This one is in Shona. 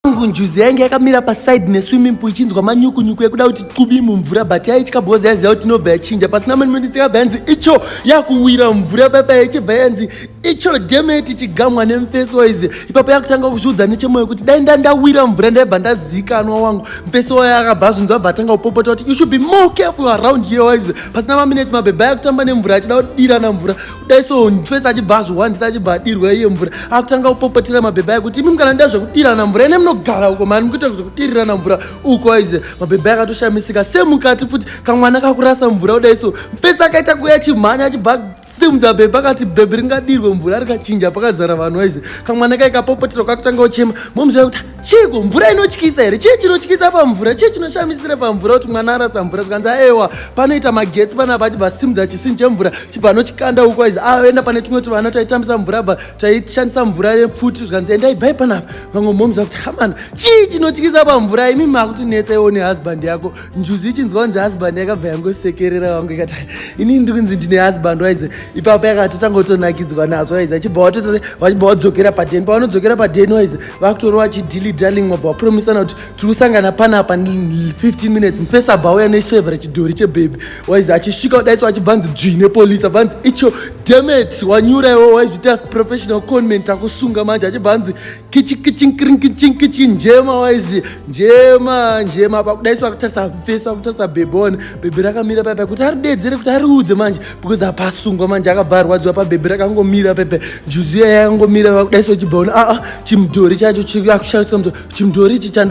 angu njuzi yainge yakamira paside neswimming pool ichinzwa manyukunyuku yekuda kuti tqubi mumvura but yaitya bhozi yaiziva kuti inobva yachinja pasina mani minutes yakabva yanzi icho yakuwira mvura papa yaichibva yanzi icho demeti chigamwa nemfesi waize ipapo yakutanga kuzviudza nechemoyo kuti dai nda ndawira mvura ndaibva ndazikanwa wangu mfesi wayo akabva azvinzwa abva atanga kupopota kuti you should be more careful around here waize pasina maminutes mabhebha yakutamba nemvura achida kudirana mvura dai so mfesi achibva azvihwandisa achibva adirwa iye mvura akutanga kupopotera mabhebha ayo kuti imi kana ndida zvekudirana mvura ine munogara uko mani mukuita zvekudirirana mvura uko aize mabhebha akatoshamisika semukati futi kamwana kakurasa mvura kudai so mfesi akaita kuya chimhanya achibva simudza bhebha akati bhebhi ringadirwe mvura rikachinja pakazara vanhu aize kamwana kaikapopoterwa kakutanga kuchema momziva kuti chiiko mvura inotyisa here chii chinotyisa pamvura chii chinoshamisira pamvura kuti mwana arasa mvura zvikanzi aewa panoita magetsi pana vati vasimudza chisini chemvura chibva anokikanda uko aizi aenda ah, pane tumwe tuvana taitambisa mvura bva taishandisa mvura yepfuti zvikanzi endai bhai panapa vamwe momza kuti hamana chii chinotyisa pamvura imi makuti netsa iwo nehusband yako njuzi ichinzwa kunzi husband yakabva yangosekerera vangu ikati inini ndiri kunzi ndine husband waize ipapo yakatotanga kutonakidzwa nazvo waize achibva watotaa vachibva wadzokera padeni pavanodzokera padeni waize vakutori vachidili darling wabva wapromisana kuti tiri kusangana panapa 15 minutes mufesa abva auya nechifevhera chidhori chebhebhi waizi achisvika kudaiso achibva nzi dzvii nepolisi abva nzi icho demet wanyura iwo waizviita professional conment akusunga manje achibva nzi kichikichinkirinkichinkichi njema waizi njema njema pakudaiso akutarisa mufesa akutarisa bhebhi one bhebhi rakamira paipai kuti aridedzere kuti ariudze manje because apa asungwa manje akabva arwadziwa pabhebhi rakangomira pepe njuzu iya yakangomira vakudaiso chibhaona aa ah, ah, chimudhori chacho chakushandiswa mudhori ichi